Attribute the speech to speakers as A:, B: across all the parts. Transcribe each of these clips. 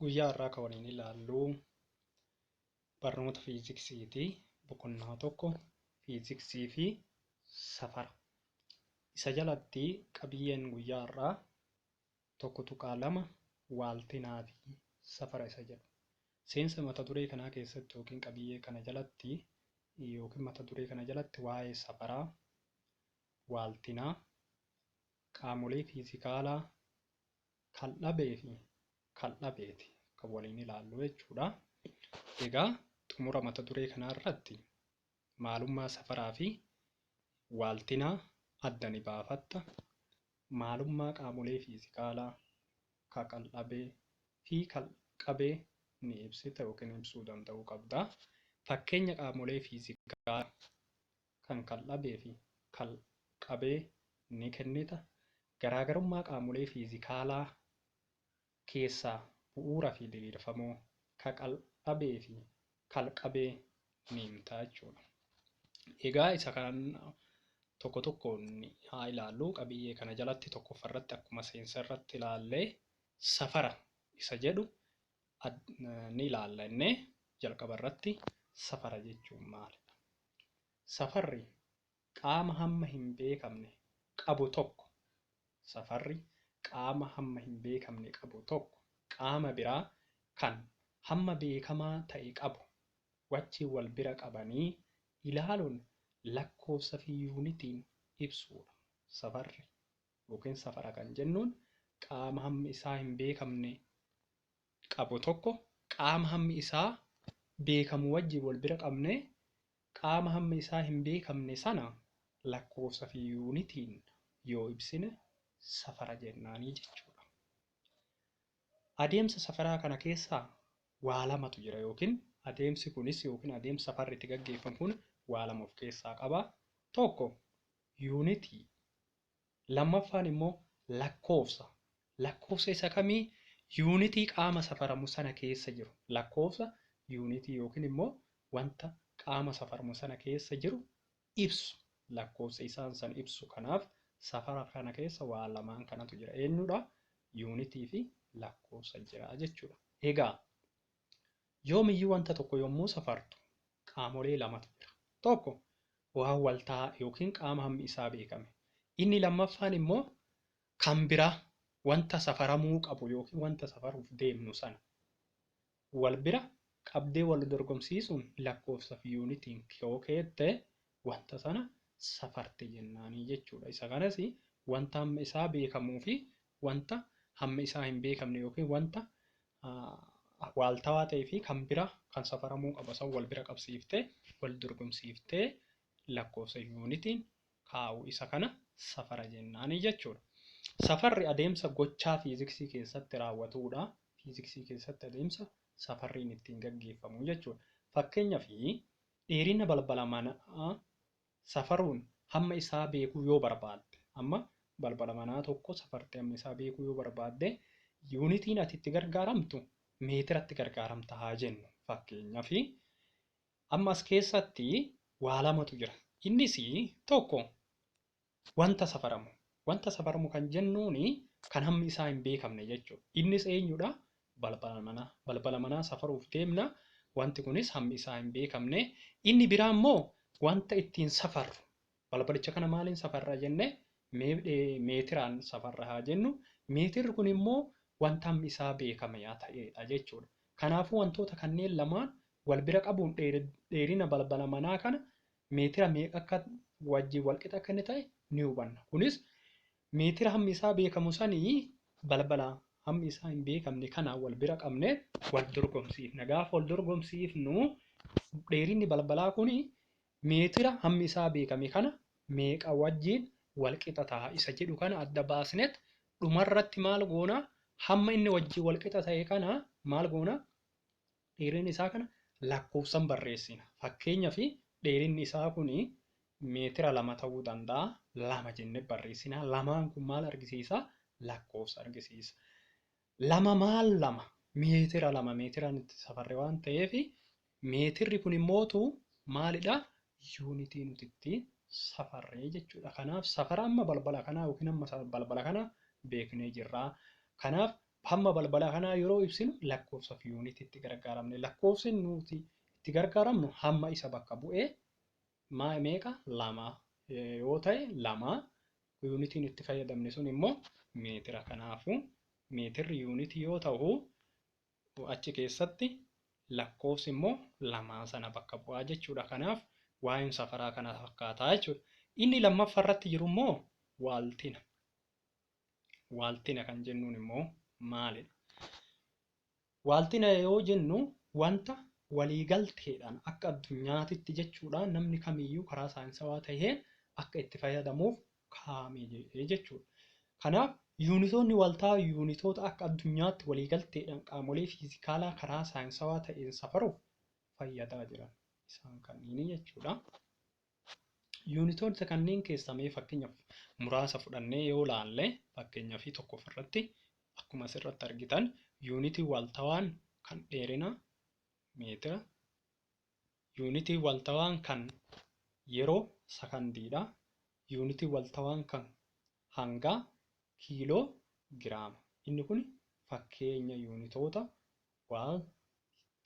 A: guyyaa har'aa kan waliin ilaallu Barnoota Fiiziksiiti. Boqonnaa 1 Fiiziksii fi Safara. Isa jalatti qabiyyeen guyyaa har'aa 1.2 Waaltinaa fi Safara isa jedhu. Seensa mata duree kanaa keessatti yookiin qabiyyee kana jalatti yookiin mata duree kana jalatti waa'ee safaraa, waaltinaa, qaamolee fiizikaalaa, kan dhabee fi kan dhabeeti kan waliin ilaallu jechuudha. Egaa xumura mata duree kanaa irratti maalummaa safaraa fi waaltinaa adda ni baafatta. Maalummaa qaamolee fiizikaalaa ka kan dhabee fi kan qabee ni ibsita yookiin ibsuu danda'uu qabda. Fakkeenya qaamolee fiizikaalaa kan kal dhabee fi kal qabee ni kennita. Garaagarummaa qaamolee fiizikaalaa keessaa bu'uura fi diriirfamoo ka kal dhabee fi kal qabee ni himta jechuudha. Egaa isa kan tokko tokkoon haa ilaallu. Qabiyyee kana jalatti tokkoffa irratti akkuma seensa irratti ilaalle safara isa jedhu ni ilaalla innee jalqaba irratti safara jechuun maalidha? Safarri qaama hamma hin beekamne qabu tokko Safarri qaama hamma hin beekamne qabu tokko qaama biraa kan hamma beekamaa ta'e qabu wajjin wal bira qabanii ilaaluun lakkoofsa fi yuunitiin ibsuu dha. Safarri ykn safara kan jennuun qaama hammi isaa hin beekamne qabu tokko qaama hammi isaa beekamu wajjin wal bira qabnee qaama hammi isaa hin beekamne sana lakkoofsa fi yuunitiin yoo ibsine safara jennaanii jechuu dha. Adeemsa safaraa kana keessaa waa lamatu jira yookiin adeemsi kunis yookiin adeemsi safarri itti gaggeeffamu kun waa lama of keessaa qaba. Tokko yuunitii Lammaffaan immoo lakkoofsa. Lakkoofsa isa kamii? Yuunitii qaama safaramu sana keessa jiru. Lakkoofsa yuunitii yookiin immoo wanta qaama safarmu sana keessa jiru ibsu. Lakkoofsa isaan san ibsu. Kanaaf safara kana keessa waa lamaan kanatu jira. Eenyudha? Yuunitii fi lakkoofsa jira jechuudha. Egaa Yoomiyyuu wanta tokko yommuu safartu qaamolee lamatu jira. Tokko waan walta'aa yookiin qaama hammi isaa beekame. Inni lammaffaan immoo kan biraa wanta safaramuu qabu yookiin wanta safaruuf deemnu sana wal bira qabdee wal dorgomsiisuun lakkoofsa fi yuunitiin yoo keette wanta sana safarte jennaanii jechuudha. Isa kanas wanta hammi isaa beekamuu fi wanta hammi isaa hin beekamne yookiin wanta waaltawaa ta'ee fi kan bira kan safaramuu qaba san wal bira qabsiiftee wal dorgomsiiftee lakkoofsa yuunitiin kaa'u isa kana safara jennaani jechuudha. Safarri adeemsa gochaa fiiziksii keessatti raawwatuudha. Fiiziksii keessatti adeemsa safarriin ittiin gaggeeffamu jechuudha. Fakkeenyaaf dheerina balbala manaa safaruun hamma isaa beekuu yoo barbaadde, amma balbala manaa tokko safartee hamma isaa beekuu yoo barbaadde, yuunitiin ati itti gargaaramtu meetiratti gargaaramta haa jennu. Fakkeenyaaf, amma as keessatti waa lamatu jira. Innis tokko wanta safaramu. Wanta safaramu kan jennuun kan hammi isaa hin beekamne jechuudha. Innis eenyudha? Balbala manaa. Balbala manaa safaruuf deemna. Wanti kunis hammi isaa hin beekamne. Inni biraa immoo wanta ittiin safarru. Balbalicha kana maaliin safarra jenne meetiraan safarra haa jennu. Meetirri kun immoo wanta hammi isaa beekame yaa ta'eedha jechuudha. Kanaafuu wantoota kanneen lamaan wal bira qabuun dheerina balbala manaa kana meetira meeqa akka wajjin walqixa akka inni ta'e ni hubanna. Kunis Meetira hammi isaa beekamu sani balbala hammi isaa hin beekamne kana wal bira qabne wal dorgomsiifna. Gaafa wal dorgomsiifnu dheerinni balbalaa kun meetira hammi isaa beekame kana meeqa wajjiin wal qixa taha isa jedhu kana adda baasnet dhumarratti maal goona hamma inni wajjiin wal qixa tahe kana maal goona Dheerina isaa kana lakkoofsan barreessina. Fakkeenyaaf dheerinni isaa kun meetira lama ta'uu danda'a. Lama jennee barreessina. Lamaan kun maal argisiisa? Lakkoofsa argisiisa. Lama maal lama? Meetira lama meetiraan itti safarre waan ta'eef meetirri kun immootu maalidha? Yuunitii nuti itti safarree jechuudha. Kanaaf safara amma balbala kanaa yookiin amma balbala kana beeknee jirra. Kanaaf Hamma balbala kanaa yeroo ibsinu lakkoofsa fi yuunitii itti gargaaramne. Lakkoofsi nuti itti gargaaramnu hamma isa bakka bu'ee maa meeqa lama yoo ta'e lama yuunitiin itti fayyadamne sun immoo meetira kanaafu meetirri yuunitii yoo ta'u achi keessatti lakkoofsi immoo lamaa sana bakka bu'aa jechuudha kanaaf waa'een safaraa kana fakkaataa jechuudha inni lammaffaa irratti jiru immoo waaltina Waaltina kan jennuun immoo maalidha? Waaltina yoo jennu wanta waliigalteedhaan akka addunyaatitti jechuudha namni kamiyyuu karaa saayinsawaa ta'een akka itti fayyadamuuf kaa'ame jechuudha. Kanaaf yuunitoonni waltaa yuunitoota akka addunyaatti waliigalteedhaan qaamolee fiizikaalaa karaa saayinsawaa ta'een safaruuf fayyadaa jiran isaan kanneen jechuudha. Yuunitoota kanneen keessaa mee fakkeenyaaf muraasa fudhannee yoo ilaalle fakkeenyaa fi tokko ofirratti akkuma asirratti argitan yuunitii waltawaan kan dheerina meetira yuunitii waltawaan kan yeroo sakandiidha yuunitii waltawaan kan hangaa kiiloo giraama inni kun fakkeenya yuunitoota Waan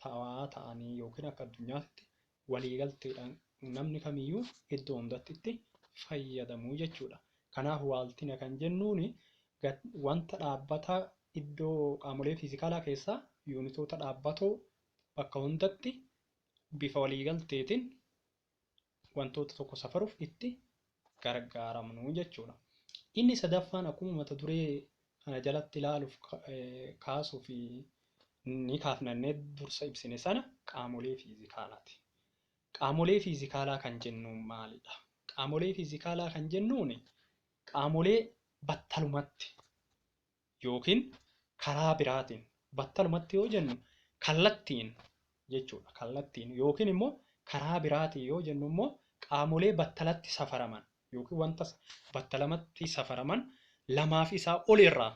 A: ta'aa ta'anii yookiin akka addunyaatitti waliigalteedhaan namni kamiyyuu iddoo hundatti itti fayyadamu jechuudha. Kanaaf waaltina kan jennuun wanta dhaabbataa iddoo qaamolee fiizikaalaa keessaa yuunitoota dhaabbatoo bakka hundatti bifa waliigalteetiin wantoota tokko safaruuf itti gargaaramnu jechuudha. Inni sadaffaan akkuma mata duree kana jalatti ilaaluuf kaasuu fi ni kaafnannee dursa ibsine sana qaamolee fiizikaalaati. Qaamolee fiizikaalaa kan jennuun maalidha? Qaamolee fiizikaalaa kan jennuun qaamolee battalumatti yookiin karaa biraatiin battalumatti yoo jennu kallattiin jechuudha. Kallattiin yookiin immoo karaa biraatiin yoo jennu immoo qaamolee battalatti safaraman yookiin wanta battalamatti safaraman lamaaf isaa ol irraa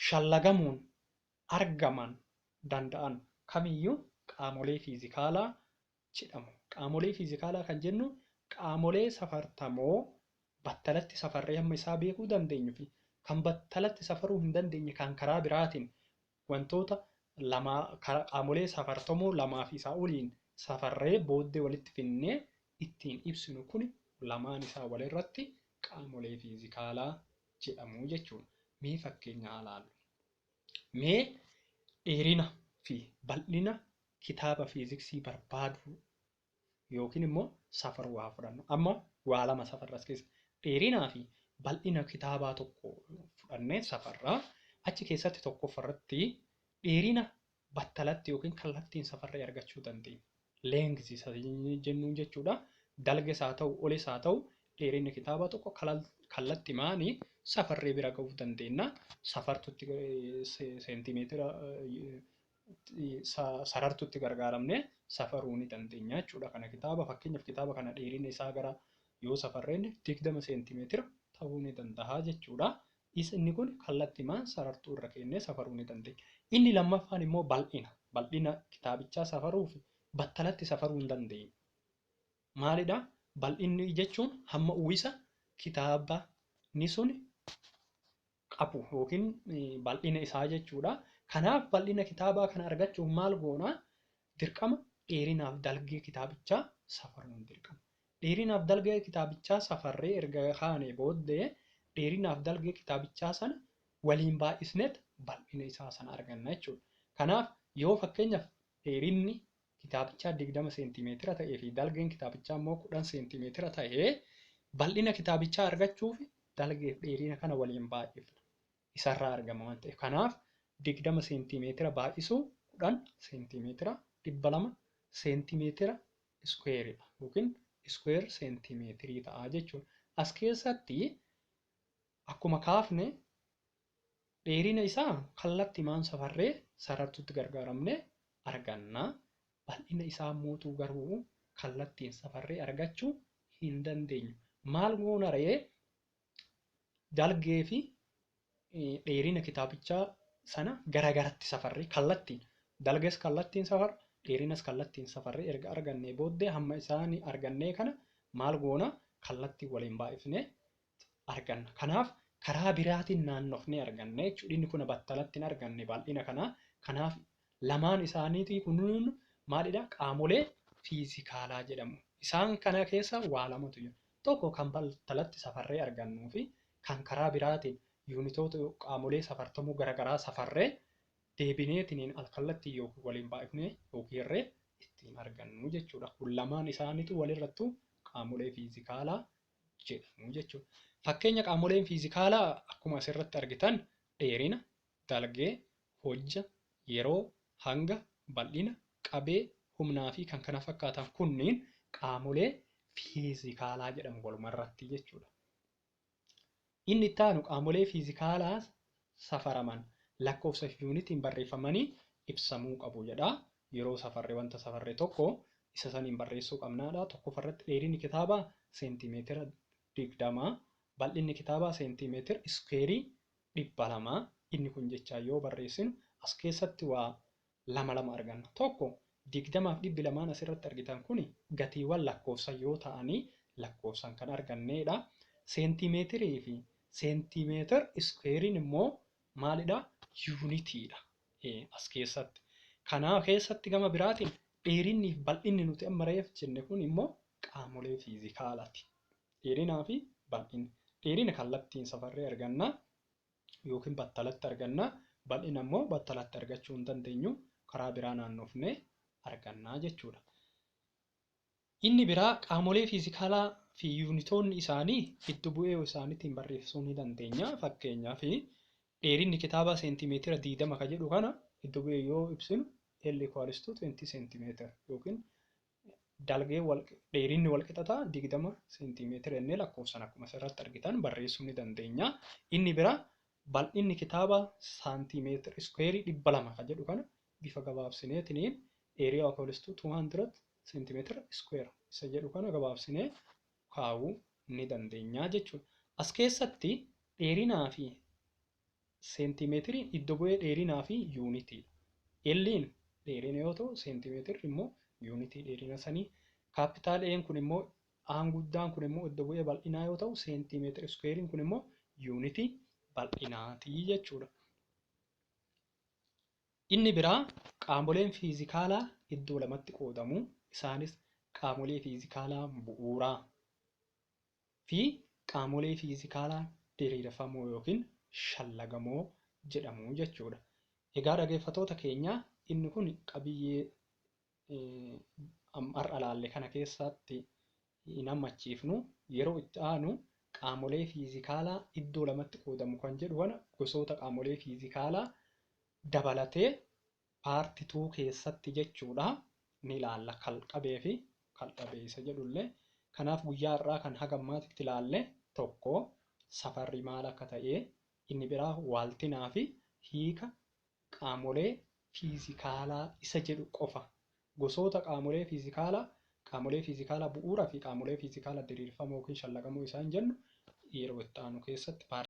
A: shallagamuun argaman danda'an kamiyyuu qaamolee fiizikaalaa jedhamu. Qaamolee fiizikaalaa kan jennu qaamolee safartamoo battalatti safarree hamma isaa beekuu dandeenyu fi kan battalatti safaruu hin dandeenye kan karaa biraatiin wantoota lamaa qaamolee safartamoo lamaa fi isaa oliin safarree booddee walitti finnee ittiin ibsinu kun lamaan isaa walirratti qaamolee fiizikaalaa jedhamu jechuudha. Mee fakkeenya haa laallu. Mee dheerina fi bal'ina kitaaba fiiziksii barbaaduu yookiin immoo safaruu haa fudhannu. Amma waa lama safarra as keessa. Dheerinaa fi bal'ina kitaabaa tokko fudhannee safarra. Achi keessatti tokkoffa irratti dheerina battalatti yookiin kallattiin safarree argachuu dandeenya. Length isa jennuun jechuudha. Dalges haa ta'u, olis haa ta'u dheerinni kitaabaa tokko kallatti maani safarree bira ga'uu dandeenya. Safartutti seentimeetira sarartutti gargaaramne safaruu ni dandeenya jechuudha. Kana kitaaba fakkeenyaaf kitaaba kana dheerina isaa gara yoo safarreen digdama seentimeetira ta'uu ni danda'a jechuudha. Isa inni kun kallattimaan sarartuu irra keennee safaruu ni dandeenya. Inni lammaffaan immoo bal'ina. Bal'ina kitaabichaa safaruuf battalatti safaruu hin dandeenyu. Maalidha? Bal'inni jechuun hamma uwwisa kitaabni sun qabu yookiin bal'ina isaa jechuudha. Kanaaf bal'ina kitaabaa kana argachuuf maal goona? Dirqama dheerinaaf dalgee kitaabichaa safaruun dirqama. Dheerinaaf dalgee kitaabichaa safarree erga kaanee booddee dheerinaaf dalgee kitaabichaa sana waliin baay'isneet bal'ina isaa sana arganna jechuudha. Kanaaf yoo fakkeenyaaf dheerinni kitaabichaa 20 seentiimeetira ta'ee fi dalgeen kitaabichaa immoo 10 seentiimeetira ta'e bal'ina kitaabichaa argachuuf dalgeef dheerina kana waliin baay'ifna. Isarraa argama waan ta'eef. Kanaaf 20 seentiimeetira baay'isuu 10 seentiimeetira 200 seentiimeetira iskuweeridha yookiin iskuweer seentiimeetirii ta'a jechuudha. As keessatti akkuma kaafne Dheerina isaa kallattimaan safarree sarartuutti gargaaramnee arganna, bal'ina isaa ammootuu garuu kallattiin safarree argachuu hin dandeenyu. Maal goona ree? Dalgee fi dheerina kitaabichaa sana garagaratti safarree kallattiin dalges kallattiin safarra dheerinas kallattiin safarree erga argannee booddee hamma isaanii argannee kana maal goona kallattiin waliin baay'ifnee arganna. Kanaaf karaa biraatiin naannofnee arganna jechuudha. Inni kun battalatti hin arganne bal'ina kanaa. Kanaaf lamaan isaaniitii kunuun maalidha? Qaamolee fiizikaalaa jedhamu. Isaan kana keessa waa lamatu jira. Tokko kan battalatti safarree argannuu fi kan karaa biraatiin yuunitoota qaamolee safartamuu garaagaraa safarree deebineetiniin alkallattiin yookiin waliin baay'ifnee yookiin hirree ittiin argannu jechuudha. Kun lamaan isaaniitu walirrattu qaamolee fiizikaalaa jedhamu jechuudha. Fakkeenya qaamoleen fiizikaalaa akkuma asirratti argitan dheerina, dalgee, hojja, yeroo, hanga, bal'ina, qabee, humnaa fi kan kana fakkaatan kunniin qaamolee fiizikaalaa jedhamu walumarratti jechuudha. Inni itti aanu qaamolee fiizikaalaa safaraman lakkoofsa fi yuunitiin barreeffamanii ibsamuu qabu jedha. Yeroo safarre wanta safarre tokko isa saniin barreessuu qabna jedha. Tokkoffaa irratti dheerinni kitaabaa seentiimeetira 20, bal'inni kitaabaa seentiimeetir iskuweerii 200. Inni kun jechaan yoo barreessinu as keessatti waa lama lama arganna. Tokko, digdama fi dhibbi lamaan asirratti argitan kuni gatiiwwan lakkoofsan yoo ta'anii lakkoofsan kan arganneedha. Seentiimeetirii fi seentiimeetir iskuweeriin immoo maalidha? Yuunitiidha as keessatti. Kanaa keessatti gama biraatiin dheerinni fi bal'inni nuti amma reef jenne kun immoo qaamolee fiizikaalaati. Dheerinaa fi bal'inni. Dheerina kallattiin safarree arganna. yookiin battalatti arganna, bal'ina immoo battalatti argachuu hin dandeenyu, karaa biraa naannofnee arganna jechuudha. Inni biraa qaamolee fiizikaalaa fi yuunitoonni isaanii iddo bu'ee isaaniitiin barreessuu ni dandeenya. Fakkeenyaaf dheerinni kitaabaa seentimeetira 20 ka jedhu kana iddo bu'ee yoo ibsinu L equals to 20 seentimeetira yookiin dalgee dheerinni walqixa ta'a 20 seentiimeetira jennee lakkoofsan akkuma asirratti argitan barreessuu ni dandeenya. Inni bira bal'inni kitaaba saantiimeetira iskuweerii 200 kan jedhu kana bifa gabaabsineetiniin area of holstu 200 seentiimeetira iskuweer isa jedhu kana gabaabsinee kaa'uu ni dandeenya jechuudha. As keessatti dheerinaa fi Seentimeetiriin iddo bu'ee dheerinaa fi yuunitii. L'n dheerina yoo ta'u seentimeetirri immoo yuunitii dheerina sanii. Kaappitaal A'n kun immoo A'n guddaan kun immoo iddo bu'ee bal'inaa yoo ta'u seentimeetira iskuweeriin kun immoo yuunitii bal'inaati jechuudha. Inni biraa qaamoleen fiizikaalaa iddoo lamatti qoodamu. Isaanis qaamolee fiizikaalaa bu'uuraa. fi qaamolee fiizikaalaa diriirfamoo ykn shallagamoo jedhamu jechuudha. Egaa dhageeffatoota keenyaa inni kun qabiyyee har'a laalle kana keessaatti hin hammachiifnu yeroo itti aanu qaamolee fiizikaalaa iddoo lamatti qoodamu kan jedhu kana gosoota qaamolee fiizikaalaa dabalatee part two keessatti jechuudha ni ilaalla kal qabee fi kal dhabee isa jedhu illee kanaaf guyyaa har'aa kan haga ammaatitti ilaalle tokko safarri maal akka ta'ee inni biraa waaltinaa fi hiika qaamolee fiizikaalaa isa jedhu qofa gosoota qaamolee fiizikaalaa qaamolee fiizikaalaa bu'uura fi qaamolee fiizikaalaa diriirfamoo yookiin shallaqamoo isaan jennu yeroo itti aanu keessatti part